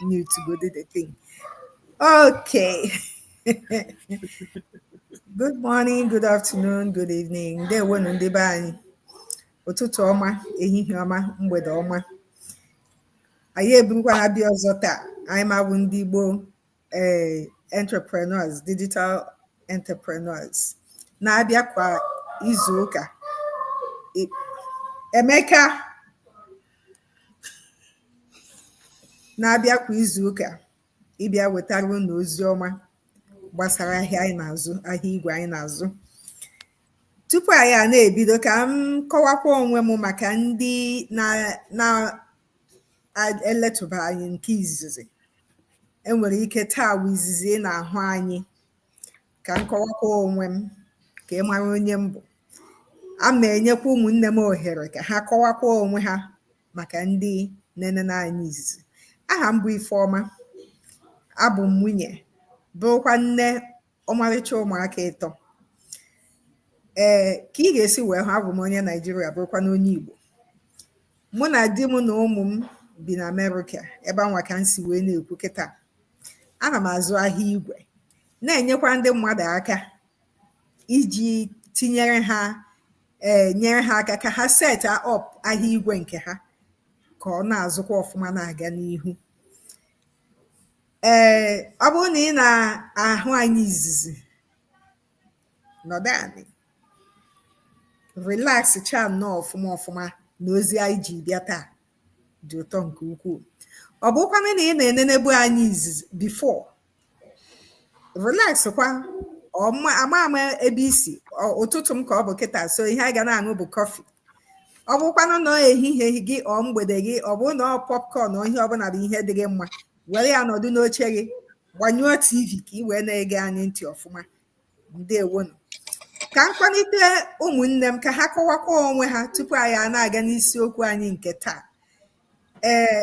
mute go do the thing. Okay. good morning, good afternoon, good evening. ndewonụ ndị be anyị ụtụtụ ọma ehihie ọma mgbede ọma anyị eburukwana bịa ọzọ taa anyị nwa bụ ndị Igbo ee eh, entrepreneurs digital entrepreneurs na-abịa kwa izu ụka Emeka na-abịa kwa izu ụka ịbịa wetara unu ozi ọma gbasara ahịa anyị na-azụ ahịa igwe anyị na-azụ tupu anyị a na-ebido ka m kọwakwa onwe m maka ndị na-eletụba anyị nke izizi enwere ike taa wụ izizi ị na-ahụ anyị ka m kọwakwa onwe m ka ị mara onye m bụ a ma enyekwa ụmụnne m ohere ka ha kọwakwa onwe ha maka ndị na-enene anyị izizi aha m bụ Ifeọma abụ m nwunye bụrụkwa nne ọmarịcha ụmụaka ịtọ ee ka ị ga-esi wee hụ abụ m onye Naijiria bụrụkwa na onye Igbo mụ na di m na ụmụ m bi na Amerịka ebe anwa ka m si wee na-ekwu kịta ana m azụ ahịa igwe na-enyekwa ndị mmadụ aka iji tinyere ha ee eh, nyere ha aka ka ha set up ahịa igwe nke ha ka ọ na-azụkwa ọfụma na-aga n'ihu ee eh, ọ bụrụ na ị na-ahụ anyị izizi nọdụ anị relax cha nnọọ ọfụma ọfụma na ozi anyị ji bịa taa dị ụtọ nke ukwuu ọ bụkwanụ na ị na-enenebu anyị izizi before relax kwa ọma ama ama ebe i si ọ- ụtụtụ m ka ọ bụ kịta so ihe anyị ga na-aṅụ bụ kọfị ọ bụkwanụ na ehihie gị ọ mgbede gị ọ bụrụ na ọ popcorn ọ ihe ọbụla bụ ihe dị gị mma were ya nọdụ n'oche gị gbanyụọ tv ka ị wee na-ege anyị ntị ọfụma ndewonụ ka m kpọlite ụmụnne m ka ha kọwakwa onwe ha tupu anyị a na-aga n'isiokwu anyị nke taa ee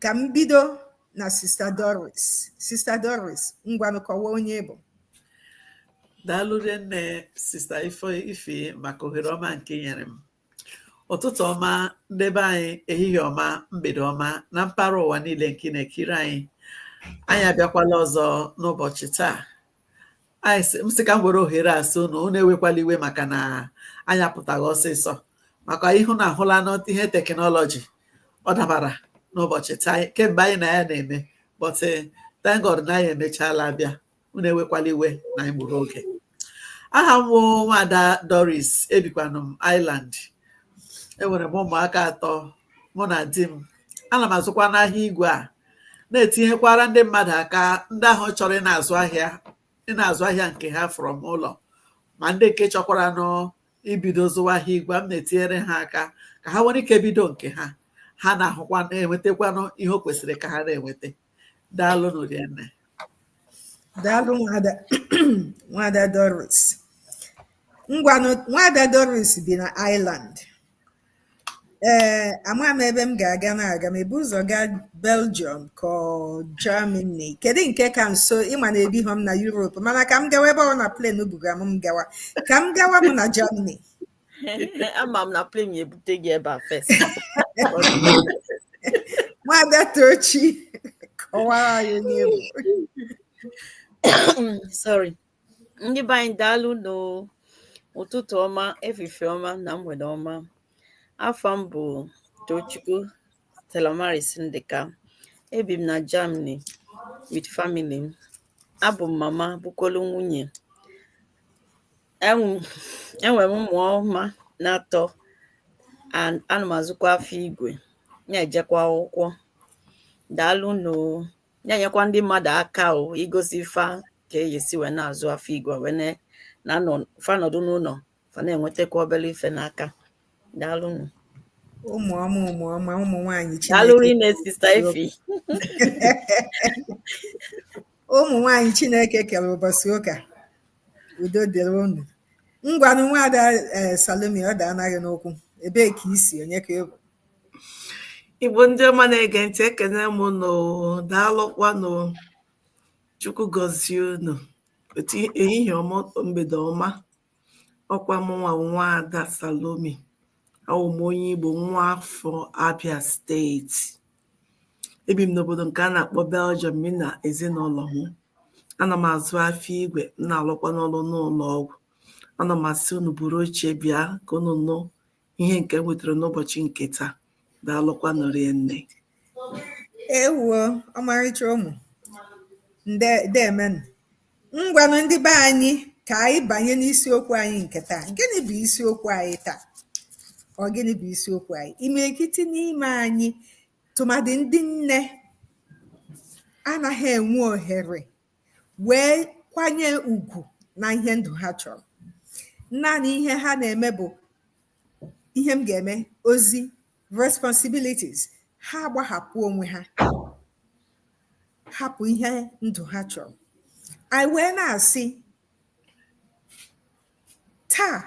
ka m bido na sista doris sista doris ngwanụ kọwaa onye ị bụ daalụ nne sista ife ife maka ohere ọma nke i nyere m ụtụtụ ọma ndị be anyị ehihie ọma mgbede ọma na mpaghara ụwa niile nke na-ekiri anyị anyị abịakwala ọzọ n'ụbọchị taa anyị sị m sị ka m were ohere a sị unu unu ewekwala iwe maka na anyị apụtaghị ọsịsọ maka ịhụ na ahụla n'ihe teknọlọji ọ dabara n'ụbọchị taa kemgbe anyị na ya na-eme but eh, thank God na anyị emechaala bịa unu ewekwala iwe na anyị gburu oge aha m wụ nwada Doris ebikwanụ m Ireland enwere m ụmụaka atọ mụ na di m ana m azụkwanụ ahịa igwe a na-etinyekwara ndị mmadụ aka ndị ahụ chọrọ ịna-azụ ahịa ịna-azụ ahịa nke ha from ụlọ ma ndị nke chọkwaranụ ibido zụwa ahịa igwe m na-etinyere ha aka ka ha nwere ike bido nke ha ha na-ahụkwa na-enwetakwanụ ihe o kwesịrị ka ha na-enweta daalụnụ rinne daalụ nwada nwada doris ngwanụ nwada doris bi na ireland Ee, ama m ebe m ga-aga m aga m ebu ụzọ gaa Belgium ka ọ Germany kedu nke ka nso ị ma na ebighọ m na Europe mana ka m gawa ebe ọ na plane buga m m gawa ka m gawa m na Germany ama m na plane ya-ebute gị ebe a first nwada Tochi kọwara anyị onye ị bụ sorry ndị be anyị daalụnụ ụtụtụ ọma efifie ọma na mgbede ọma afa m bụ tochukwu stellamaris ndịka ebi m na germany with family m abụ m mama bụkwolu nwunye enwere m ụmụ ọma n'atọ ana m azụkwa afịa igwe na-ejekwa akwụkwọ daalụnụ o na-enyekwa ndị mmadụ aka o igosi fa ka e si wee na-azụ afịa igwe wee na- na anọ fa nọdụ n'ụlọ fa na-enwetakwa obele ife n'aka daalụnụ ụmụ ọma ụmụ ọma ụmụ nwaanyị daalụ Chineke rinne sister Ify ụmụ nwaanyị Chineke kere ụbọchị ụka udo dịrị unu ngwanụ nwada ee Salome ọ da anaghị n'ụkwụ ebee ka i si onye ka ị bụ Igbo ndị ọma na-ege ntị ekene m nụ daalụkwanụ Chukwu gọzie unu otu ehihie ọma mgbede ọma ọ kwa mụnwa nwada Salome awụ m onye Igbo nwa afọ Abia steeti ebi m n'obodo nke a na-akpọ Belgium mi na ezinụlọ m ana m azụ afịa igwe m na-alụkwanụ ọrụ n'ụlọ ọgwụ ana m asị unu buru oche bịa ka unu nụ ihe nke e nwetara n'ụbọchị nke taa daalụkwanụ rinne ewuo ọmarịcha ụmụ ndeemenụ ngwanụ ndị be anyị ka anyị banye n'isiokwu anyị nke taa gịnị bụ isiokwu anyị taa ọ gịnị bụ isiokwu anyị imirikiti n'ime anyị tụmadị ndị nne anaghị enwe ohere wee kwanye ugwu na ihe ndụ ha chọrọ naanị ihe ha na-eme bụ ihe m ga-eme ozi responsibilities ha agbahapụ onwe ha hapụ ihe ndụ ha chọrọ anyị wee na-asị taa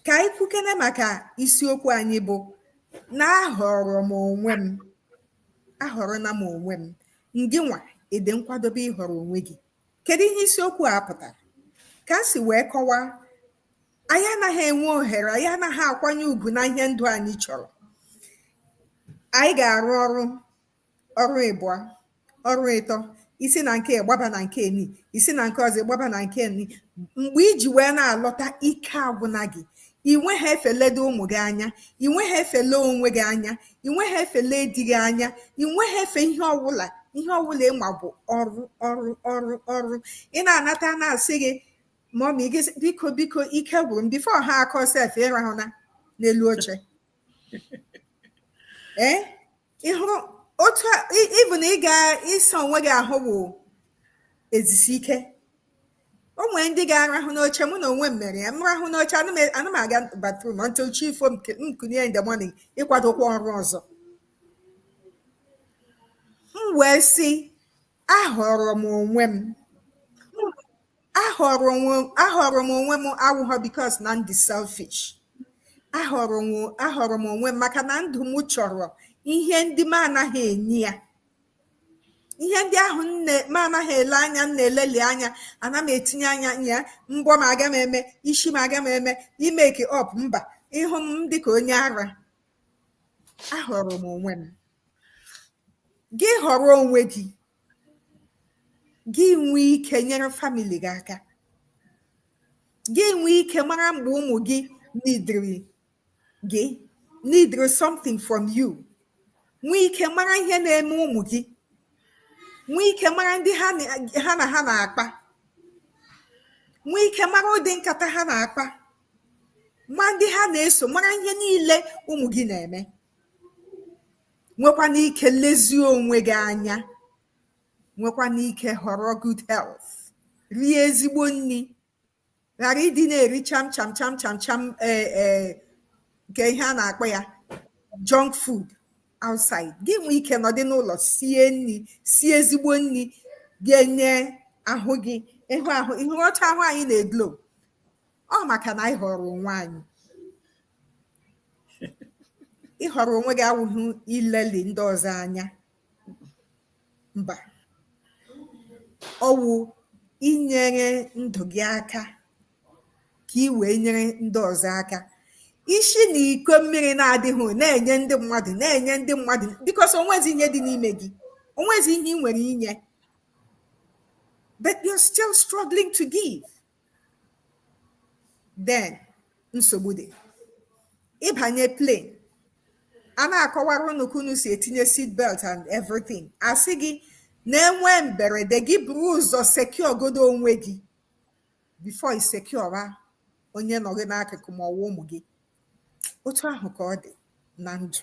ka anyị kwukene maka isiokwu anyị bụ na ahọrọ m onwe m ahọrọna m onwe m ngị nwa ị dị nkwadobe ịhọrọ onwe gị kedu ihe isiokwu a pụtara ka m si wee kọwaa anyị anaghị enwe ohere anyị anaghị akwanye ugwu na ihe ndụ anyị chọrọ anyị ga-arụ ọrụ ọrụ ịbụọ ọrụ ịtọ i si na nke gbaba na nke ni i si na nke ọzọ gbaba na nke ni mgbe i ji wee na-alọta ike agwụna gị i nweha efe ledo ụmụ gị anya i nweha efe lee onwe gị anya ị nweghị efe lee di gị anya ị nweghị efe ihe ọwụla ihe ọwụla ị ma bụ ọrụ ọrụ ọrụ ọrụ ị na-anata na-asị gị mọmi gị sị, biko biko ike gwụrụ m before ha akọ sef ị rahụna n'elu oche ee ị hụrụ otu a- ị- ịbụ na ị ga ịsa onwe gị ahụ bụ ezi isi ike o nwere ndị ga-arahụ n'oche mụ na onwe m mere ya m rahụ n'oche ana m aga bathroom until chi efo m kunie in the morning ịkwadokwa ọrụ ọzọ m wee sị ahọrọ m onwe m ahọrọ m onwe m awụghọ because na m dị selfish ahọrọ m onwe m maka na ndụ m chọrọ ihe ndị m anaghị enye ya ihe ndị ahụ m anaghị ele anya m na-eleli anya ana m etinye anya ya mbọ m aga m eme isi m aga m eme i make up mba ị hụ m dị ka onye ara ahọrọ m onwe m gị họrọ onwe gị gị nwee ike nyere family gị aka gị nwee ike mara mgbe ụmụ gị nidiri gị nidiri something from you nwee ike mara ihe na-eme ụmụ gị nwee ike mara ndị ha na ha na-akpa nwee ike mara ụdị nkata ha na-akpa ma ndị ha na-eso mara ihe niile ụmụ gị na-eme nwekwana ike lezie onwe gị anya nwekwana ike họrọ good health rie ezigbo nri ghara ịdị na-eri cham cham cham cham cham e, e, nke ihe a na-akpọ ya junk food outside gị nwee ike nọdị n'ụlọ sie nri sie ezigbo nri ga-enye ahụ gị ị hụ ahụ ị hụ ọcha ahụ anyị na-eglo ọ maka na anyị họrọ onwe anyị ịhọrọ onwe gị awụghị ileli ndị ọzọ anya mba ọ wụ inyere ndụ gị aka ka i wee nyere ndị ọzọ aka i si na iko mmiri na-adịghị na-enye ndị mmadụ na-enye ndị mmadụ because o nwezi ihe dị n'ime gị o nwezi ihe ị nwere inye but you're still struggling to give then nsogbu dị ị banye plane a na-akọwara unu ka unu si etinye seat belt and everything a sị gị na e nwee mberede gị buru ụzọ secure godo onwe gị before i secure onye nọ gị n'akụkụ ma ọwa ụmụ gị otu ahụ ka ọ dị na ndụ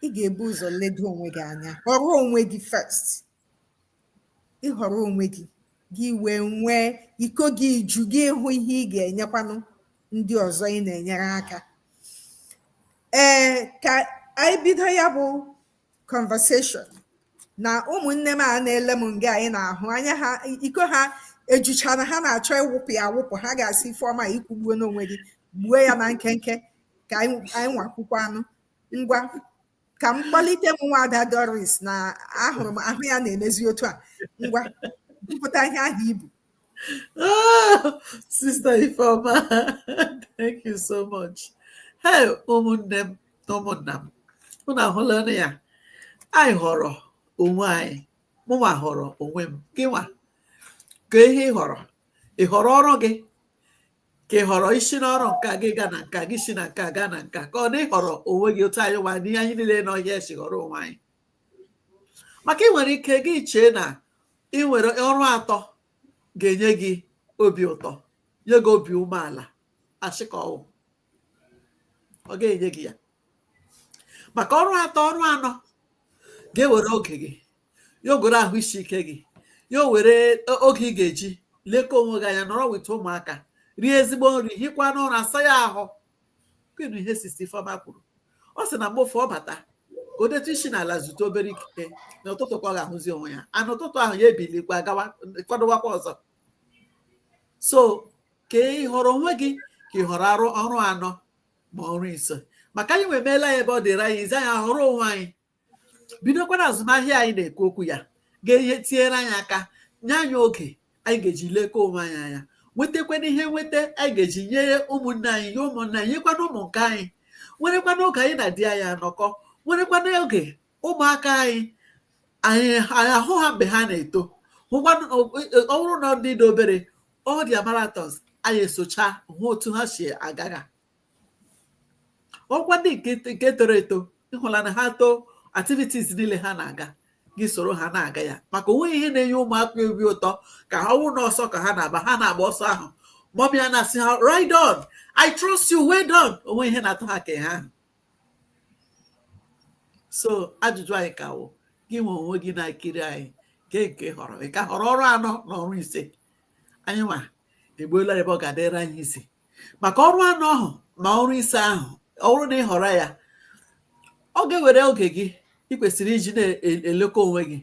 ị ga-ebu ụzọ ledo onwe gị anya họrọ onwe gị first ị họrọ onwe gị gị wee nwee iko gị ju gị hụ ihe ị ga-enyekwanụ ndị ọzọ ị na-enyere aka ee ka anyị bido ya bụ conversation na ụmụnne m a na-ele m nga anyị na-ahụ anya ha iko ha ejuchana ha na-achọ ịwụpụ ya awụpụ ha ga-asị ifeọma i kwugbuona onwe gị gbuo ya na nkenke ka anyị nwa kwukwanụ ngwa ka m kpọlite m nwa ada Doris na ahụrụ m ahụ ya na-emezi otu a ngwa bupụta ihe ahụ i bu Oh, Sister Ifeoma, thank you so much. Hey, ụmụnne m na ụmụnna m, unu ahụlanụ ya. Anyị họrọ onwe anyị, mụnwa họrọ onwe m, gịnwa ka ihe ị họrọ, ị họrọ ọrụ gị, ka ị họrọ isi n'ọrụ nka gị gaa na nka gị si na nka gaa na nka ka ọ na ị họrọ onwe gị otu anyị nwa n'ihe anyị niile nọ here si họrọ onwe anyị maka ị nwere ike gị chee na ị nwere ọrụ atọ ga-enye gị obi ụtọ nye gị obi umeala asị ka ọ wụ ọ ga-enye gị ya maka ọrụ atọ ọrụ anọ ga-ewere oge gị ya o were ahụ isi ike gị ya o were oge ị ga-eji lekọọ onwe gị anya nọrọ with ụmụaka rie ezigbo nri hikwana ụra asa ya ahụ kenu ihe sista ifeọma kwuru ọ sị na mgbe ụfọdụ ọ bata ka o detu isi n'ala zutu obere ikike na ụtụtụ ka ọ ga-ahụzi onwe ya na ụtụtụ ahụ ya ebilikwa gawa kwadowakwa ọzọ so ka ị họrọ onwe gị ka ị họrọ ọrụ anọ ma ọrụ ise maka anyị nwa emeela ya ebe ọ dịrị anyị easy anyị ahọrọ onwe anyị bidokwana azụmahịa anyị na-ekwu okwu ya ga-enye tinyere anyị aka nye anyị oge anyị ga-eji lekọọ onwe anyị anya nwetakwana ihe nweta anyị ga-eji nyere ụmụnne anyị nye ụmụnne anyị nyekwana ụmụ nke anyị nwerekwana oge anyị na di anyị anọkọ nwerekwana oge ụmụaka anyị anyị ahụ ha mgbe ha na-eto hụkwanụ ọ bụrụ na ọ dị obere ọ dị marathons anyị esocha hụ otu ha si agaga ọkwa ndị nke toro eto ịhụla na ha too activities niile ha na-aga gị soro ha na-aga ya maka onweghị ihe na-enye ụmụaka obi ụtọ ka ha wụrụ n'ọsọ ka ha na-aba ha na-agba ọsọ ahụ mọmị ha na-asị ha ride on i trust you well done onweghị ihe na-atọ ha ka ahụ so ajụjụ anyị ka wụ gị nwe onwe gị na-ekiri anyị nke nke họrọ ị ka họrọ ọrụ anọ na ọrụ ise anyị nwa egbuola ebe ọ ga-adịrị anyị easy maka ọrụ anọ ahụ ma ọrụ ise ahụ ọ wụrụ na ị họrọ ya ọ ga-ewere oge gị ị kwesịrị iji na-elekọ onwe gị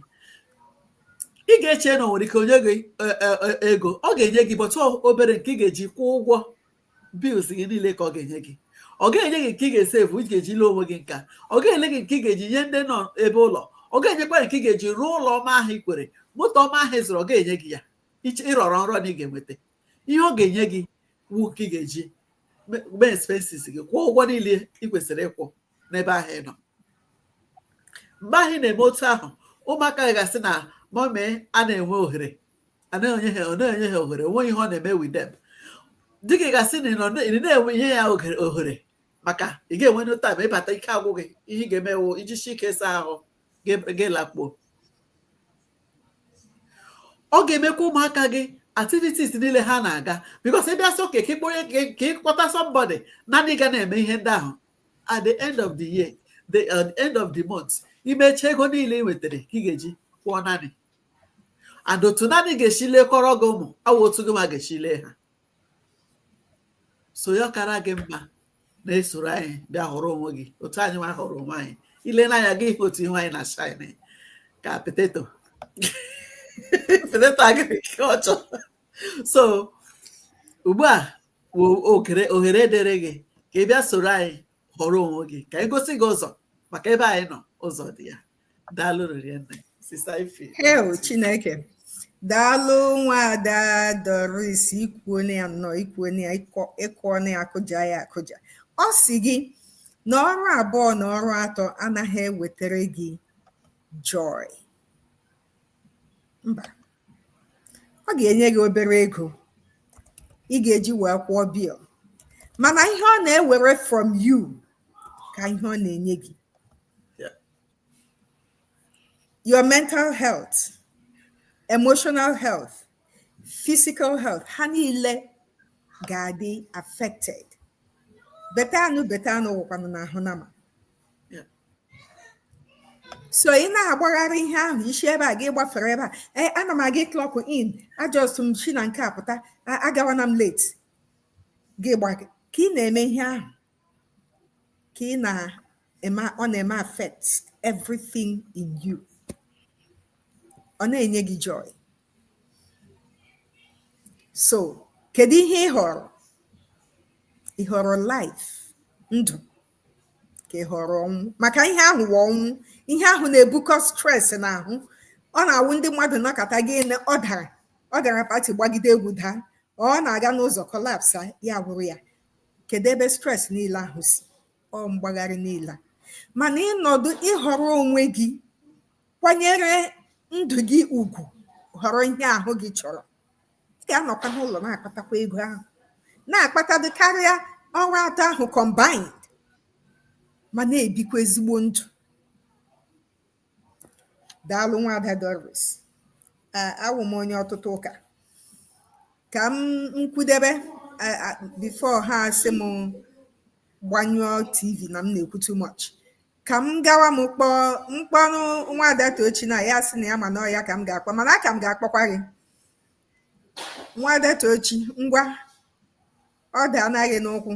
ị ga-eche na o nwere ike o nye gị e, e, e, ego ọ ga-enye gị but obere nke ị ga-eji kwụọ ụgwọ bills gị niile ka ọ ga-enye gị ọ ga-enye gị nke ị ga-esevu ị ga-eji lee onwe gị nka ọ ga-enye gị nke ị ga-eji nye ndị nọ ebe ụlọ ọ ga-enyekwa nke ị ga-eji rụọ ụlọ ọma ahụ ị kwere moto ọma ahụ ị zụrụ ọ ga-enye gị ya ị rọrọ nrọ na ị ga-enweta ihe ọ ga-enye gị wụ nke ị ga-eji mee expenses gị kwụọ ụgwọ niile ị kwesịrị ịkwụ n'ebe ahụ ị nọ mgbe ahụ ị na-eme otu ahụ ụmụaka gị ga-asị na mọmị anaghị enwe ohere anaghị enye ha na-enye ha ohere onweghị ihe ọ na-eme with them di gị ga-asị na ị naghị enwere ya ohere maka ị gaghị enwe time ị bata ike agwụ gị ihe ị ga-eme wụ ijisi ike saa ahụ gaa lakpuo ọ ga-emekwa ụmụaka gị activities niile ha na-aga because ị bịa sị okay ka ị kpọnye ka ị kpọta somebody nanny ga na-eme ihe ndị ahụ at the end of the year the uh, end of the month i mecha ego niile ị nwetara ka ị ga-eji kwụọ nanny and otu nanny ga-esi lekọrọ gị ụmụ awụghị otu gị nwa ga-esi lee ha so ya ọ kara gị mma na i soro anyị bịa họrọ onwe gị otu anyị nwa họrọ onwe anyị i lene anyị ị ga-ahụ otu ihu anyị na shine ka potato potato agịrị ka ọ chọọ so ugbu a bụ oghere ohere dịrị gị ka ị bịa soro anyị họrọ onwe gị ka anyị gosi gị ụzọ maka ebe anyị nọ ụzọ dị ya daalụ rinne sister Ife hei Chineke daalụ nwaada Doris i kwuone ya nnọọ i kwuone ya ị kụọna ya akụja ya akụja ọ sị gị na ọrụ abụọ na ọrụ atọ anaghị ewetara gị joy mba ọ ga-enye gị obere ego ị ga-eji wee kwụọ bill mana ihe ọ na-ewere from you ka ihe ọ na-enye gị your mental health emotional health physical health ha niile ga-adị affected beta anụ beta anụ wụkwanụ n'ahụ nama so ị na-agbagharị ihe ahụ i si ebe a gị gbafere ebe a ee eh, ana m aga clock in a just m shi na nke a pụta agawana m late gị gba ka ị na-eme ihe ahụ ka ị na-eme ọ na-eme affect everything in you ọ na-enye gị joy so kedu ihe ị họrọ ị họrọ life ndụ ka ị họrọ ọnwụ maka ihe ahụ wụ ọnwụ ihe ahụ na-ebukọ stress n'ahụ ọ na-awụ ndị mmadụ nọkata gị na ọ gara ọ gara party gbagide egwu daa ọ na-aga n'ụzọ collapse ya awụrụ ya kedu ebe stress niile ahụ si ọ mgbagharị niile mana ị nọdụ ị họrọ onwe gị kwanyere ndụ gị ugwu họrọ ihe ahụ gị chọrọ ị ga-anọkwa n'ụlọ na-akpatakwa ego ahụ na-akpatadị karịa ọrụ atọ ahụ combined ma na-ebikwa ezigbo ndụ Daalụ Nwaada Doris. A- Awụ m onye ọtụtụ ụka. Ka m kwudebe a- a- before ha asị m gbanyụọ TV na m na-ekwu too much. Ka m gawa m kpọọ m kpọọnụ Nwaada Tochi na ya sị na ya ma na ọ ya ka m ga-akpọ mana aka m ga-akpọkwa gị. Nwaada Tochi ngwa ọ daana gị n'ụkwụ.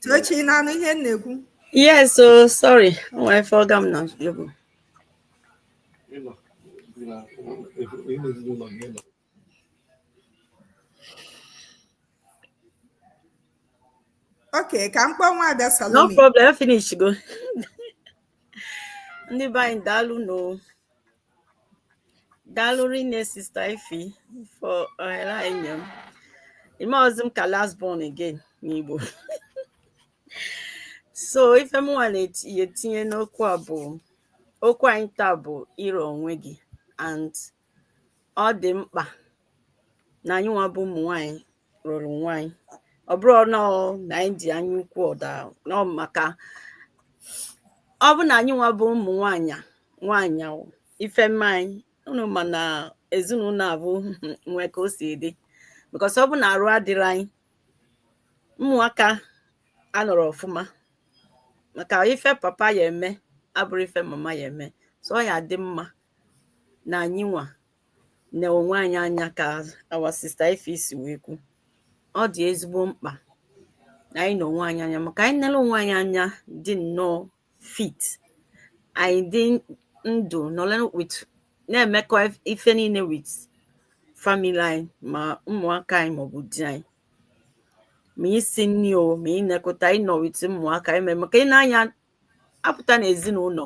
Tochi ị na-anụ ihe m na-ekwu yes so sorry o nwere ife ọga m na yobo okay ka m kpọọ nwaada no Salome problem finish go ndị be anyị daalụ nụ daalụ rinne sister Ify for ohere anyị nye m i meezi m ka last born again n'igbo so ife m nwa na-etinye n'okwu a bụ okwu anyị taa bụ ịrọ onwe gị and ọ dị mkpa na anyị nwa bụ ụmụ nwanyị rọrọ onwe anyị ọ bụrọ na na anyị dị anya ukwu ọda nọ maka ọ bụ na anyị nwa bụ ụmụ nwanyị nwanyị ife mee anyị unu ma na ezinụlọ abụ nwee ka o si dị because ọ bụ na arụ adịrọ anyị ụmụaka anọrọ ọfụma maka ife papa ya-eme abụrọ ife mama ya-eme so ọ ya-adị mma na anyị nwa ne onwe anyị anya ka our sister ify si wee kwu ọ dị ezigbo mkpa na anyị ne onwe anyị anya maka anyị nele onwe anyị anya dị nnọọ fit anyị dị ndụ nọle with na-emekọ ife niile with family anyị ma ụmụaka anyị maọbụ di anyị ma isi nri o ma ịnekọta ịnọ with ụmụaka anyị maka ị na-anya apụta n'ezinụlọ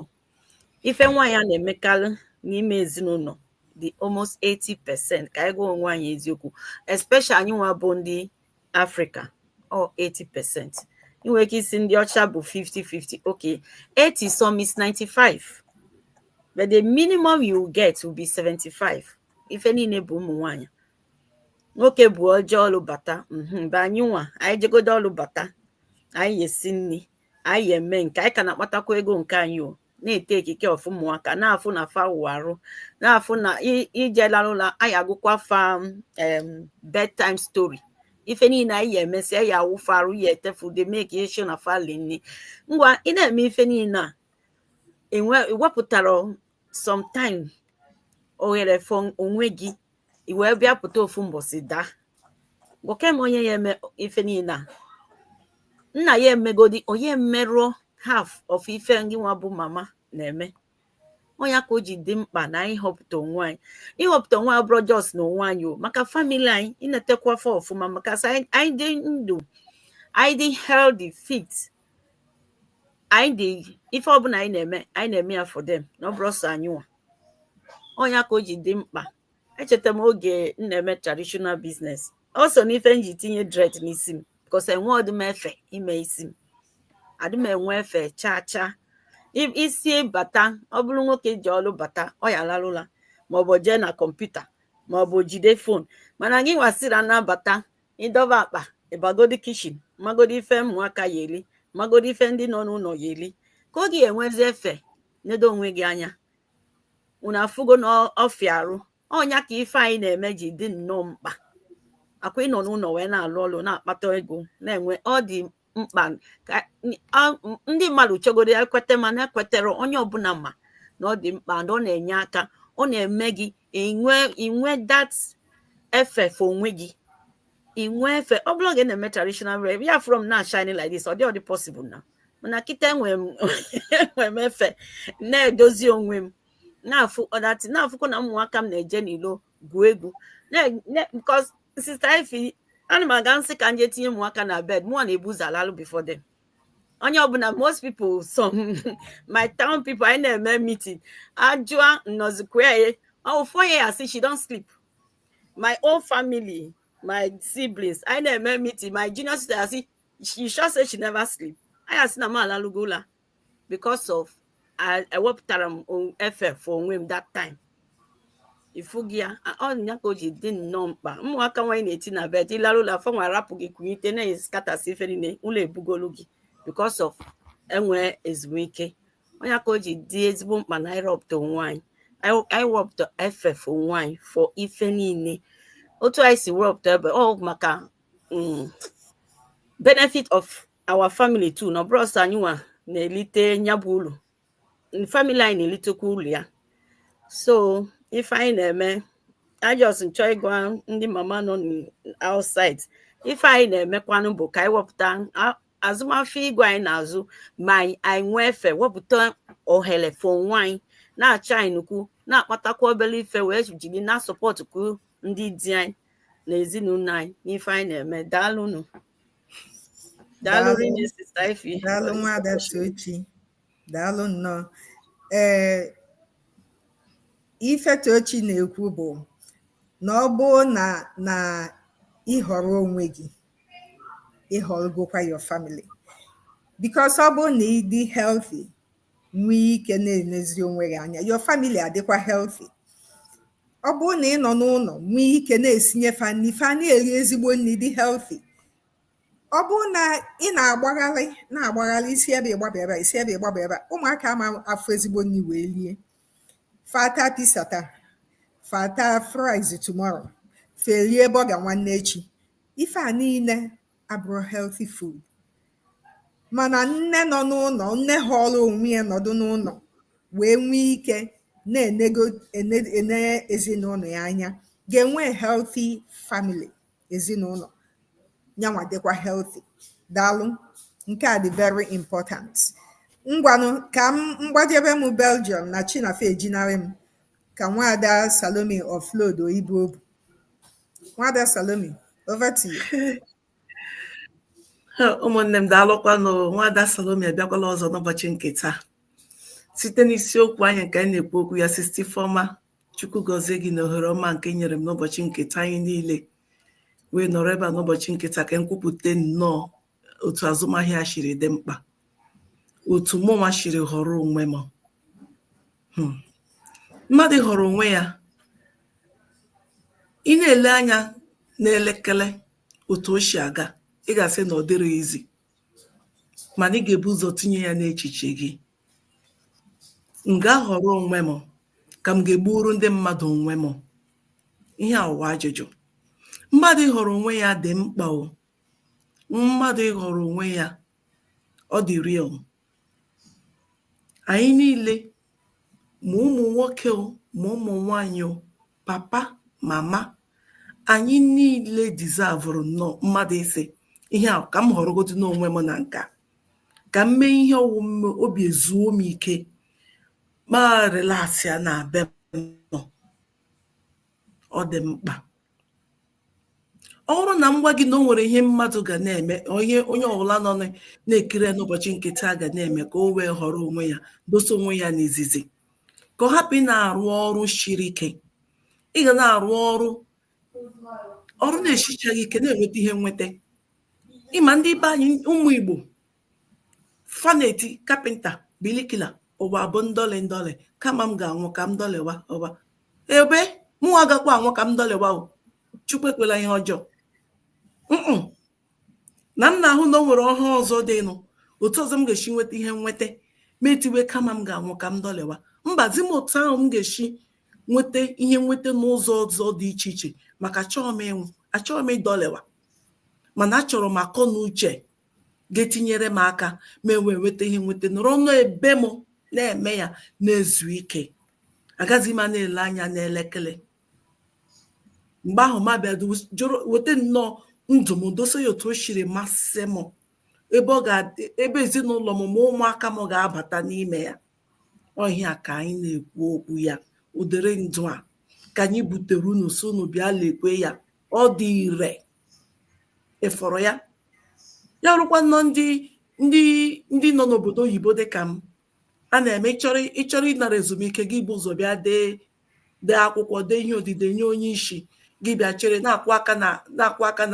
ife nwaanyị a na-emekarị n'ime ezinụlọ dị almost 80 percent ka anyị gwa onwe anyị eziokwu especially anyị nwa bụ ndị africa ọ 80 percent ị nwere ike ịsị ndị ọcha bụ 50 50 okay 80 some is 95 but the minimum you will get will be 75 ife niile bụ ụmụ nwaanyị nwoke bụ o jee ọlụ bata mhm, but anyị nwa anyị jegodo ọlụ bata anyị esi nri anyị eme nke a anyị ka na-akpatakwa ego nke anyị o na-etake care of ụmụaka na-afụ na fa wụ arụ na-afụ na i- ije larụ ụla anyị agụkwa fa em, bedtime story ife niile anyị ya emesịa ya awụ fa arụ ya ete fa ude make sure na fa li nni ngwa ị na-eme ife niile a i wepụtarọ sometime oghere for onwe gị i wee bịa pụta ofu mbọsị daa gwake m onye ya eme ife niile a nna ya emegodi ọ ya emeru half of ife gị nwa bụ mama na-eme ọ ya ka o ji dị mkpa na anyị họpụta onwe anyị ịhọpụta onwe anyị ọ bụrọ just na onwe anyị ọ maka family anyị inetekwa fa ọfụma maka a sị anyị dị ndụ anyị dị healthy fit anyị dị ife ọbụla anyị na-eme anyị na-eme ya for them na ọ bụrọ sọ anyị nwa ọ ya ka o ji dị mkpa echeta m oge m na-eme traditional business ọ so n'ife m ji tinye dread n'isi m because enwerọdị m efe ime isi m adị m enwe efe chaa chaa isi bata ọ bụrụ nwoke jee ọlụ bata ọ ya larụ ụla maọbụ jee na computer maọbụ jide phone mana gị nwa as ị na-abata ị dọba akpa ị bagodi kitchen magodi ife ụmụaka ya eri magodi ife ndị nọ n'ụlọ ya eri kee oge i nwezi efe nedo onwe gị anya unu afụgo na ọ fịa arụ ọ ya ka ife anyị na-eme ji dị nnọọ mkpa akwa ịnọ n'ụlọ wee na-alụ ọlụ na-akpata ego na-enwe ọ dị mkpa ka ndị mmadụ chọgodo ekweta mana ekwetarọ onye ọbụla ma na ọ dị mkpa na ọ na-enye aka ọ na-eme gị inwe inwe that efe for onwe gị inwe efe ọ bụrụ oge m na-eme traditional rep ya afụ m na-shine like this ọ dịrọdị possible na mana kịta enwe m efe na-edozi onwe m na after that ị na-afụkwa na ụmụaka m na-eje n'ilo gwuo egwu because sister Ify ana m aga m sị ka m je tinye ụmụaka na bed mụwa na-ebu ụzọ alalụ before them onye ọbụla most people some my town people anyị na-eme meeting ajụa nnọzikwa ya oh four years she don sleep my own family my siblings anyị na-eme meeting my junior sister asị she sure say she never sleep anyị asị na m alalugo ụla because of I- ewepụtara m o- efe for onwe m that time ị fụgo ya a- ọ nya ka o ji dị nnọọ mkpa ụmụaka nwa anyị na-eti na bed ị larụ ụla fanwa arapụ gị kunyite na-eskatasị ife niile ụla ebugolu gị because of enwe ezumike ọ nya ka o ji dị ezigbo mkpa na anyị rọpụta onwe anyị Anyị- anyị wepụta efe for onwe anyị for ife niile otu anyị si wepụta ebe ọ maka mm, benefit of our family too na ọ bụrọ sọ anyịnwa na-elite nya bụ ulu family anyị na-elitekwa ulu ya so ife anyị na-eme I just m chọ ịgwa ndị mama nọ outside ife anyị na-emekwanụ bụ ka anyị wepụta azụmafịa igwe anyị na-azụ ma anyị nwee efe wepụta ohere for onwe anyị na-achọ anyị nnukwu na-akpatakwa obere ife wee jiri na-asupportkwu ndị di anyị na ezinụlọ anyị n'ife anyị na-eme daalụnụ daalụ rinne sister Ify daalụ nwada Tochi daalụ nnọọ ee ife tochi na-ekwu bụ na ọ bụ na ị họrọ onwe gị ị họrọgokwa your family because ọ bụrụ na ị dị healthy nwee ike na-enezi onwe gị anya your family adịkwa healthy ọ bụrụ na ị nọ n'ụlọ nwee ike na-esinye fa nri fa na-eri ezigbo nri dị healthy ọ bụrụ na ị na-agbagharị na-agbagharị i si ebe a gbaba ebe a, i si ebe a gbaba ebe a, ụmụaka ama afụ ezigbo nri wee rie fa ata pizza taa fa ata fries tomorrow fa erie burger nwanne echi ife a niile abụrụ healthy food mana nne nọ n'ụlọ nne họrọ onwe ya nọdụ n'ụlọ wee nwee ike na-ene ezinụlọ ya anya ga-enwe healthy family ezinụlọ nyanwa dịkwa healthy daalụ nke a dị very important ngwanụ ka m gbajebe m Belgium na chi na-efe ejinarị m ka nwada Salome offloaduo ibu obu Nwada Salome, over to you. ụmụnne m daalụkwanụ nwada Salome abịakwala ọzọ n'ụbọchị nke taa site n'isiokwu anyị nke anyị na-ekwu okwu ya sister Ifeoma chukwu gọzie gị na ohere ọma nke i nyere m n'ụbọchị nke taa anyị niile wee nọrọ ebe a n'ụbọchị nke taa ka m kwupụta nnọọ otu azụmahịa shiri dị mkpa otu mụnwa shiri họrọ onwe mụ mmadụ họrọ onwe ya ị na-ele anya n'elekere otu o si aga ị ga-asị na ọ dịrị easy mana ị ga-ebu ụzọ tinye ya n'echiche gị m ga-ahọrọ onwe m ka m ga-egburu ndị mmadụ onwe m ihe ahụ wụ ajụjụ mmadụ ịhọrọ onwe ya dị mkpa o mmadụ ịhọrọ onwe ya ọ dịrị anyị niile ma ụmụ nwoke o ma ụmụ nwanyị o papa mama anyị niile deservụrụ nnọọ mmadụ ịsị ihe a ka m họrọgodu n'onwe m na nke a ka m mee ihe ọ wụ m mee obi ezuo m ike ma relaxịa n'ebe m nọ ọ dị mkpa ọ bụrụ na m gwa gị na o nwere ihe mmadụ ga na-eme ihe onye ọbụla nọ na-ekiri n'ụbọchị nke taa ga na-eme ka o wee họrọ onwe ya dosa onwe ya n'izizi ka ọ hapụ ịna-arụ ọrụ shiri ike ị ga na-arụ ọrụ ọrụ na-esichaghị ike na-enweta ihe nweta ị ma ndị be anyị ụmụ Igbo fa na-eti carpenter bricklayer ụwa bụ ndọlị ndọlị kama m ga-anwụ ka m dọlịwa ụwa ebe mụ agakwa anwụ ka m dọlịwa o chukwu ekwela ihe ọjọọ na m na-ahụ na o nwere ọhụụ ọzọ dịnụ otu ọzọ m ga-esi nweta ihe nweta mụ etiwe kama m ga-anwụ ka m dọlịwa mba zi m otu ahụ m ga-esi nweta ihe nweta n'ụzọ ọzọ dị iche iche maka achọghị m ịnwụ achọghị m ịdọlịwa mana achọrọ m akọ na uche ga-etinyere m aka m ewee nweta ihe nweta nọrọ nnọọ ebe m na-eme ya na-ezu ike agaghị m na-ele anya n'elekere mgbe ahụ mụ abịa weta nnọọ ndụ m dosa ya otu o siri masị m ebe ezinụlọ m ma ụmụaka m ga-abata n'ime ya ọ ihe a ka anyị na-ekwu okwu ya ụdịrị ndụ a ka anyị butere unu so unu bịa lekwe ya ọ dị ire ị fụrụ ya ya rukwa nnọọ ndị ndị ndị nọ n'obodo oyibo dị ka m a na-eme ị ị chọrọ ịnara ezumike gị ebu ụzọ bịa dee dee akwụkwọ dee ihe odide nye onye isi gị bịa chere na-akụ aka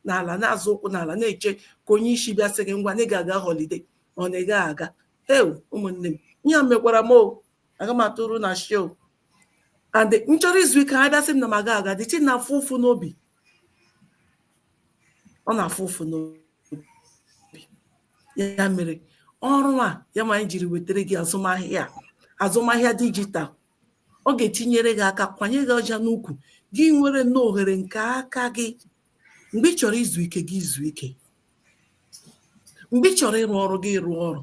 n'ala na-azọ ụkwụ n'ala na-eche ka onye isi bịa sị gị ngwa na ị ga-aga holiday or na ị gaghị aga heu ụmụnne m ihe a mekwara m o aga m atụrụ na show and nchọrọ izu ike ha bịa sị m na m ga-aga duty na-afụ ụfụ n'obi ọ na-afụ ụfụ n'obi ya mere ọrụ a ya ma anyị jiri wetara gị azụmahịa azụmahịa dijital ọ ga-etinyere gị aka kwanye gị ọja n'ukwu gị nwere nnọọ ohere nke aka gị mgbe ị chọrọ izu ike gị izu ike mgbe ị chọrọ ịrụ ọrụ gị rụọ ọrụ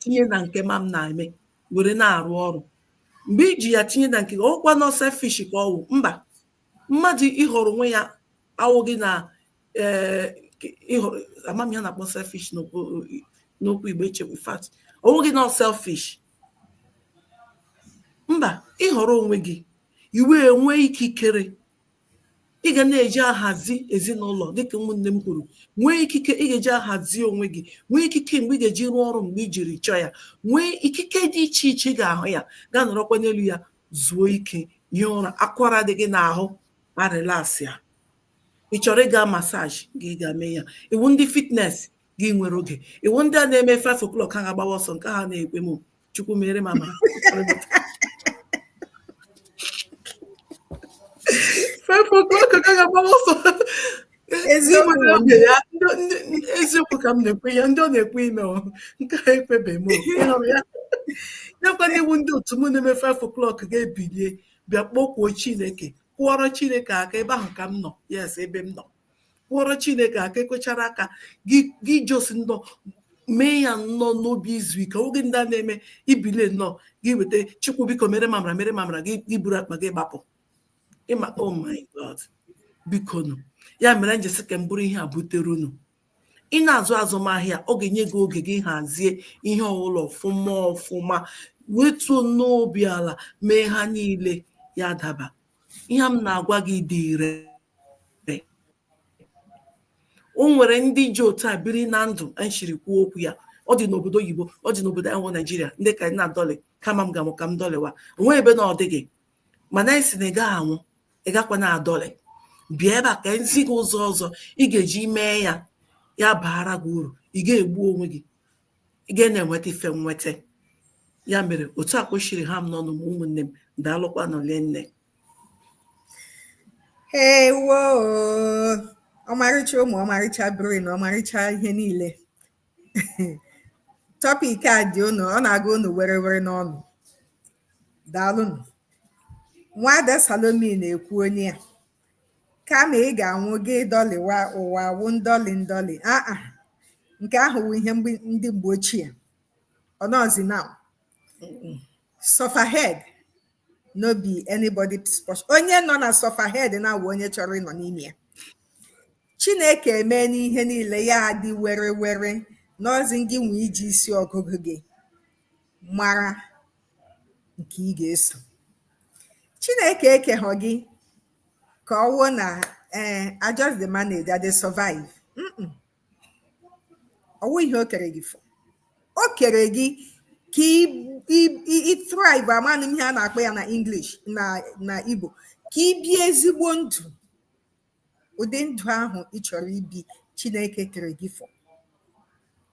tinye na nke ma m na-eme were na-arụ ọrụ mgbe iji ya tinye na nke ọwụkwanụ selfish ka ọwụ mba mmadụ ịhọrọ onwe ya awụghị na eh, ịhọrọ amam ihe a na-akpọ selfish n'okwu igbo echekwa fact ọwụghị nọ selfish mba ịhọrọ onwe gị i wee nwee ikikere ị ga na-eji ahazi ezinụlọ dịka ụmụnne m kwuru nwee ikike ị ga-eji ahazi onwe gị nwee ikike mgbe ị ga-eji rụọ ọrụ mgbe i jiri chọọ ya nwee ikike dị iche iche ị ga-ahụ ya gaa nọrọkwa n'elu ya zuo ike hie ụra akwara dị gị n'ahụ arịlasị ya ị chọrọ ịga massage gị gaa mee ya ị wụ ndị fitness gị nwere oge ị wụ ndị a na-eme 5 o'clock ha ga-agbawa ọsọ nke ha na-ekwe m chukwu meere m amara five o'clock ka a ga-agbawa ọsọ eziokwu ka m na-ekwu ya ndị ọ na-ekwe ime nke a ekwebeghị m ya nakwa na ị wụ ndị otu m na-eme 5 o'clock ga-ebilie bịa kpọkwuo chineke kụọrọ chineke aka ebe ahụ ka m nọ yes ebe m nọ kụọrọ chineke aka ị kụchara aka gị just nnọọ mee ya nnọọ n'obi izu ike ọwụghị ndị a na-eme ibilie nnọọ gị weta chukwu biko meere m amara meere m amara gị iburu akpa gị gbapụ ịma oh my god biko nụ ya mere m ji sị ka m buru ihe a butere unu ị na-azụ azụmahịa ọ ga-enye gị oge gị hazie ihe ọbụla ọfụma ọfụma wetuo nnọọ obi ala mee ha niile ya daba ihe m na-agwa gị dị ire o nwere ndị ji otu a biri na ndụ nshiri kwuo okwu ya ọ dị n'obodo oyibo ọ dị n'obodo a wụ naijiria ndị ka na-adọlị kama m ga-anwụ ka m dọlịwa onwe ebe na ọ dịghị mana anyị si na ị gaghị anwụ ị gakwa na-adọlị bịa ebe a ka e zi gị ụzọ ọzọ ị ga-eji mee ya ya baara gị uru ị ga-egbu onwe gị ị ga na-enweta ife nweta ya mere otu a ka o siri ha m n'ọnụ ụmụnne m daalụkwanụ le nne ewo ọmarịcha ụmụ ọmarịcha brain ọmarịcha ihe niile tọpik a dị unu ọ na-aga unu were were n'ọnụ daalụnụ nwada salomi na-ekwu onye a kama ị ga-anwụ gị dọlịwa ụwa wụ ndọlị ndọlị aa nke ahụ wụ ihe ndị mgbe ochie ọ nọzi now sufferhead no be anybody's portion onye nọ na sufferhead na-awụ onye chọrọ ịnọ n'ime ya chineke emeena ihe niile ya adị were were n'ọzi gị nwe iji isi ọgụgụ gị mara nke ị ga-eso chineke ekeghọ gị ka ọ wụọ na ee eh, I just dey manage I dey survive ọ wụ ihe o kere gị for o kere gị ka ị thrive amanụ m ihe a na-akpọ ya na English na na Igbo ka ị bie ezigbo ndụ ụdị ndụ ahụ ị chọrọ ibi Chineke kere gị for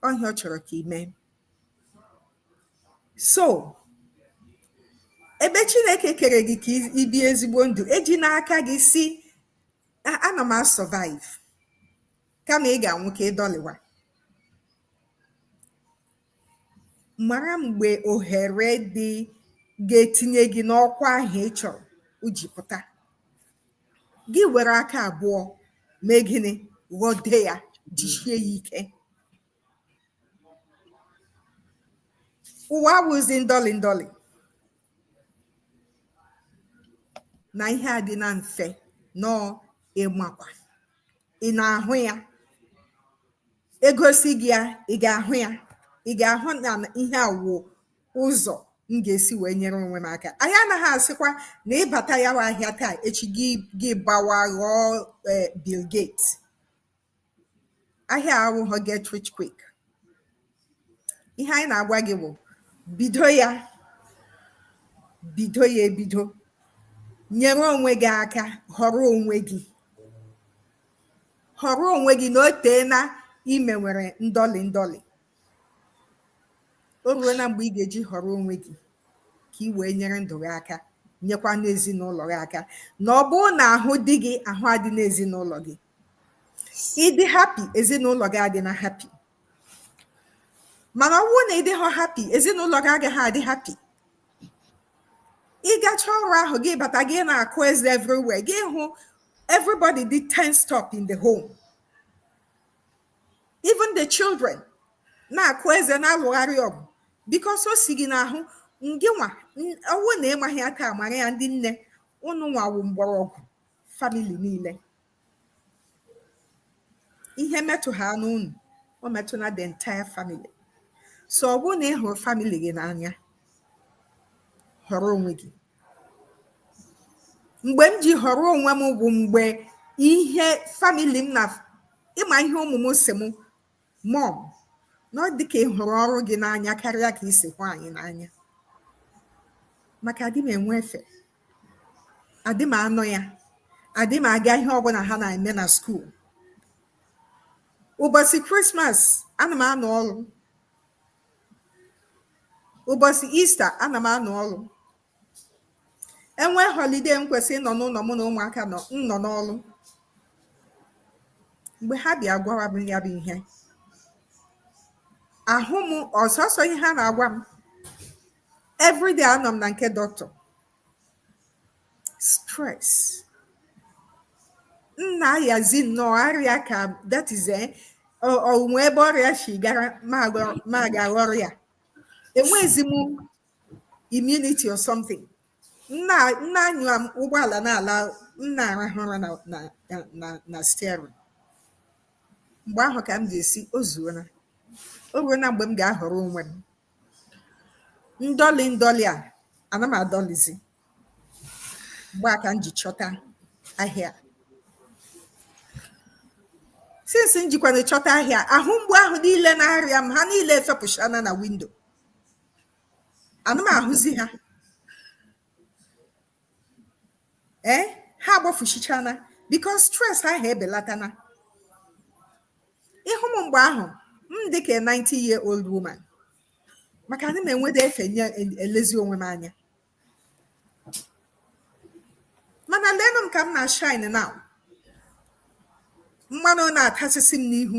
ọ ihe a ọ chọrọ ka ị mee so ebe Chineke kere gị ka ị bie ezigbo ndụ ejina aka gị sị ana m a-survive kama ị ga-anwụ ka ị dọlịwa mara mgbe ohere dị ga-etinye gị n'ọkwa ahụ ị chọrọ o ji pụta gị were aka abụọ mee gịnị ghọde ya jisie ya ike ụwa awụzi ndọlị ndọlị na ihe a dị na mfe nọọ ịmakwa ị na-ahụ ya e gosi gị ya ị ga-ahụ ya ị ga-ahụ na ihe a wụ ụzọ m ga-esi wee nyere onwe m aka anyị anaghị asịkwa na ị bata ya wa ahịa taa echi gị gị gbawa ghọọ eh, Bill Gates ahịa awụghọ get rich quick ihe anyị na-agwa gị bụ bido ya bido ya ebido nyere onwe gị aka họrọ onwe gị họrọ onwe gị na o teena i mewere ndọlị ndọlị o ruona mgbe ị ga-eji họrọ onwe gị ka ị wee nyere ndụ gị aka nyekwanụ ezinụlọ gị aka na ọ bụrụ na ahụ dị gị ahụ adịna ezinụlọ gị ị dị happy ezinụlọ gị adịna happy mana ọ bụrụ na ị dịghọ happy ezinụlọ gị agaghị adị happy ị gacha ọrụ ahụ gị bata gị na-akụ eze everywhere gị hụ everybody dị tensed up in the home even the children na-akụ eze na-alụgharị ọgụ because o si gị n'ahụ ngịnwa ọ wụ na ị maghị ya ka mara ya ndị nne ununwa wụ mgbọrọgwụ family niile ihe metụ ha n'unu ọ metụna the entire family so ọ bụrụ na ị hụrụ family gị n'anya họrọ onwe gị mgbe m ji họrọ onwe m bụ mgbe ihe family m na ịma ihe ụmụ m sị m Mọm, na ọ dị ka ị hụrụ ọrụ gị n'anya karịa ka i si hụ anyị n'anya maka adị m enwe efe adị m anọ ya adị m aga ihe ọbụla ha na-eme na skuul ụbọchị krismas ana m anọ ọrụ ụbọchị ista ana m anọ ọrụ e nwee holiday m kwesịrị ịnọ n'ụlọ mụ na ụmụaka nọ m nọ n'ọrụ mgbe ha bịa gwawa m ya bụ ihe ahụ m ọsọsọ ihe ha na-agwa m everyday anọ m na nke doctor stress m na-ayazi nnọọ arịa ka that is eh, o- o nwee ebe ọrịa si gara m aga- m aga ghọrọ ya enwezi m immunity or something m na- m na-anya ụgbọala na-ala m na-arahụ ụra na steering mgbe ahụ ka m ga-asị o zuona o ruona mgbe m ga-ahọrọ onwe m ndọlị ndọlị a ana m adọlizi mgbe a ka m ji chọta ahịa since m jikwana chọta ahịa ahụ mgbu ahụ niile na-arịa m ha niile efepụchana na window ana m ahụzi ha ee eh, ha agbafuchichana because stress ahụ ebelatana ị hụ m mgbe ahụ m dị ka 90 year old woman maka ana m enwede efe nye elezi onwe m anya mana leenụ m ka m na-ashine now mmanụ na-atasịsị m n'ihu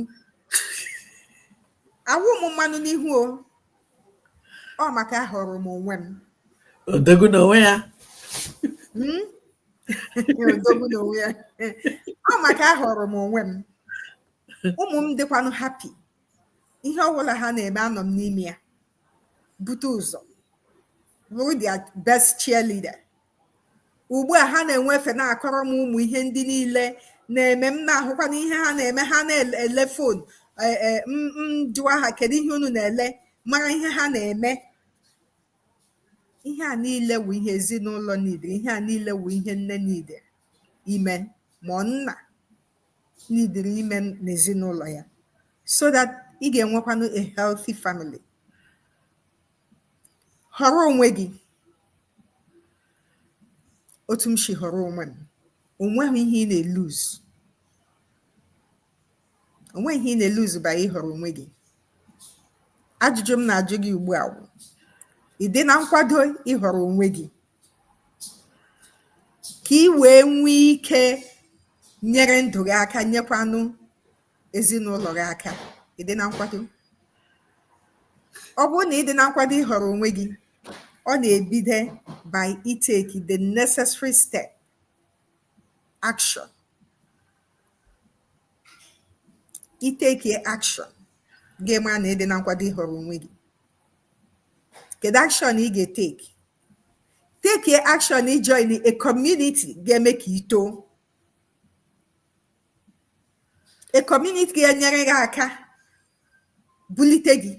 awụ m mmanụ n'ihu o ọ maka ahọrọ m onwe m odogwu n'onwe ya hmm? odogwu n'onwe ya ọ maka ahọrọ m onwe m ụmụ m dịkwanụ happy ihe ọbụla ha na-eme anọ m n'ime ya bute ụzọ bụrụ their best cheerleader ugbu a ha na-enwe efe na-akọrọ m ụmụ ihe ndị niile na-eme m na-ahụkwa na ihe ha na-eme ha na-ele phone e, e, m jụwa ha kedu ihe unu na-ele mara ihe ha na-eme ihe a niile wụ ihe ezinụlọ niile ihe a niile wụ ihe nne niile I mean ma nna needịrị ime n'ezinụlọ ya so that ị ga-enwekwanụ a healthy family họrọ onwe gị otu m si họrọ onwe m onweghị ihe ị na-elose onweghị ihe ị na-elose by ịhọrọ onwe gị ajụjụ m na-ajụ gị ugbu a wụ ị dị na nkwado ịhọrọ onwe gị ka i wee nwee ike nyere ndụ gị aka nyekwanụ ezinụlọ gị aka ị dị na nkwado ọ bụrụ na ị dị na nkwado ịhọrọ onwe gị ọ na-ebido by itake the necessary step action itake action ga-eme na ị dị na nkwado ịhọrọ onwe gị kedu action ị ga-etake take action ijoin a community ga-eme ka i too a community ga-enyere gị aka bulite gị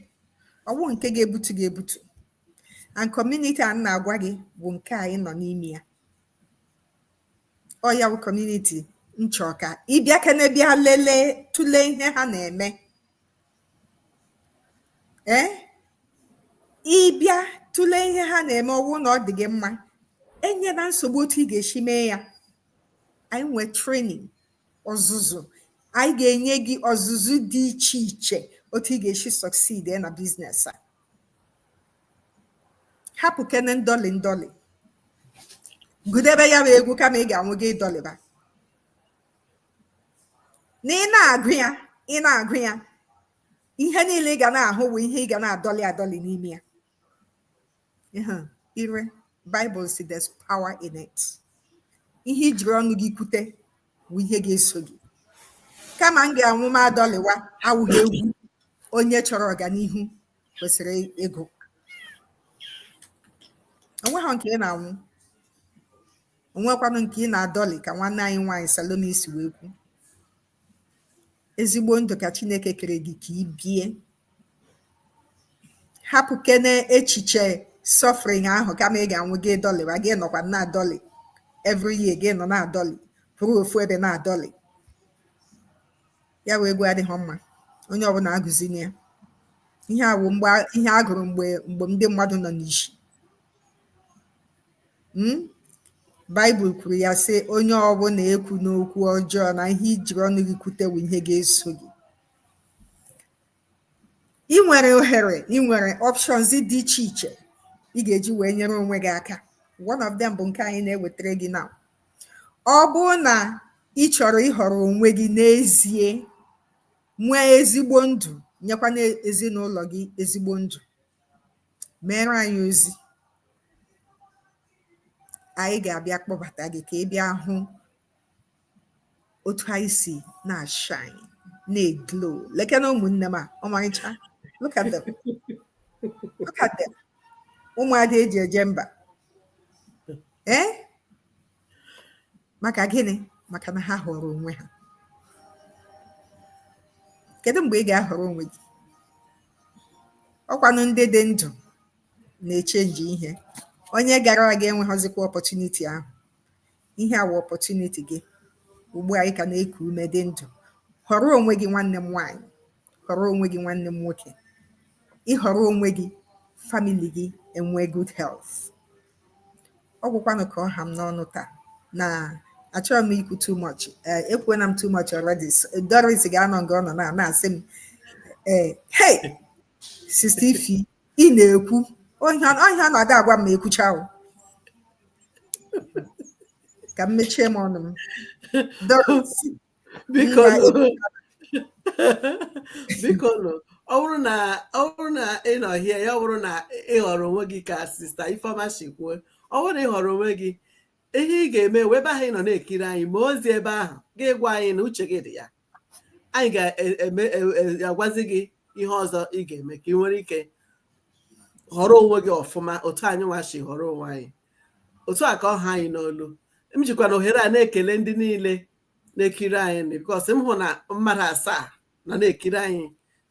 ọ wụ nke ga-ebutu gị ebutu and community a m na-agwa gị bụ nke anyị nọ n'ime ya ọ ya bụ community m chọ ka ị bịakene bịa lelee tụlee ihe ha na-eme ee ị bịa tụlee ihe ha na-eme ọ wụ na ọ dị gị mma enyena nsogbu otu ị ga-esi mee ya anyị nwee training ọzụzụ anyị ga-enye gị ọzụzụ dị iche iche otu ị ga-esi succeed na business a hapụkene ndọlị ndọlị gụdebe ya bụ egwu kama ị ga-anwụ gị dọlịba na ị na-agụ ya ị na-agụ ya ihe niile ị ga na-ahụ bụ ihe ị ga na-adọlị adọlị n'ime ya ire Bible sị there's power in it ihe i jiri ọnụ gị kwute bụ ihe ga-eso gị kama m ga-anwụ m adọlịwa awụghị egwu onye chọrọ ọganihu kwesịrị ịgụ onweghị nke ị na-anwụ onwekwanụ nke ị na-adọlị ka nwanne anyị nwaanyị Salome si wee kwu ezigbo ndụ ka Chineke kere gị ka i bie hapụkene echiche suffering ahụ kama ị ga-anwụ gị dọlịwa gị nọkwa na-adọlị every year gị nọ na-adọlị kwụrụ ofu ebe na-adọlị ya wụ egwu adịghị mma onye ọbụla agụzina ya ihe a bụ ihe a gụrụ mgbe ndị mmadụ nọ n'ishi Hmm? Baịbụl kwuru ya sị onye ọbụla ekwuna okwu ọjọọ na ihe i jiri ọnụ gị kwute wụ ihe ga-eso gị ị nwere ohere ị nwere options dị iche iche ị ga-eji wee nyere onwe gị aka one of them bụ nke anyị na-ewetara gị na ọ bụrụ na ị chọrọ ịhọrọ onwe gị n'ezie nwee ezigbo ndụ nyekwa n'ezinụlọ gị ezigbo ndụ meere anyị ozi anyị ga-abịa kpọbata gị ka ị bịa hụ otu anyị si na-ashine na-eglow lekene ụmụnne m a ọmarịcha look at them look at them ụmụada e ji eje mba ee maka gịnị maka na ha họrọ onwe ha kedu mgbe ị ga-ahọrọ onwe gị ọkwanụ ndị dị ndụ na-echenji ihe onye gara aga enweghịzikwa opportunity ahụ ihe a wụ opportunity gị ugbu a ị ka na-eku ume dị ndụ họrọ onwe gị nwanne m nwaanyị họrọ onwe gị nwanne m nwoke ị họrọ onwe gị family gị enwee good health ọ gwụkwanụ ka ọ ha m n'ọnụ taa na achọrọ m ikwu too much eh, ekwuona m too much already So, Doris ga-anọ nga ọ nọ na na-asị m eh, hey sista Ifi ị na-ekwuhie ọ na-ada agwa m ma ekwucha ahụ ka m mechie m ọnụ m Doris, biko Nna nụ. biko nụ ọ bụrụ na ọ bụrụ na ị nọ here ọ bụrụ na ị họrọ onwe gị ka sista Ifeọma si kwuo ọ bụrụ na ị họrọ onwe gị ihe ị ga-eme wụ ebe ahụ ị nọ na-ekiri anyị ma ozi ebe ahụ gị gwa anyị na uche gị dị ya anyị ga-agwazi gị ihe ọzọ ị ga-eme ka ị nwere ike họrọ onwe gị ọfụma otu anyị nwa si họrọ onwe anyị otu a ka ọ ha anyị n'olu m jikwa na ohere a na-ekele ndị niile na-ekiri anyị because m hụ na mmadụ asaa na na-ekiri anyị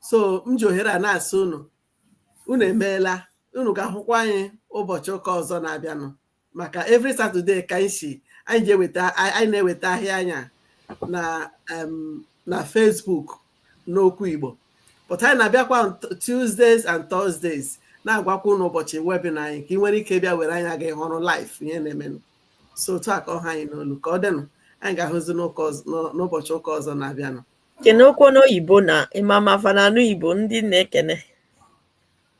so m ji ohere a na-asị unu unu emeela unu ga-ahụkwa anyị ụbọchị ụka ọzọ na-abịanụ maka every Saturday ka anyị si anyị ji eweta anyị na-eweta ahịa anyị a na na Facebook n'okwu Igbo but anyị na-abịakwa Tuesdays and Thursdays na-agwakwa unu ụbọchị webinar anyị ka ị nwere ike bịa were anya gị hụrụ live ihe na-emenụ so otu a ka ọ ha anyị n'olu ka ọ dịnụ anyị ga-ahụzi n'ụbọchị ụka ọzọ na-abịanụ kenekwuo n'oyibo na ị ma ma fa na-anụ Igbo ndị na-ekene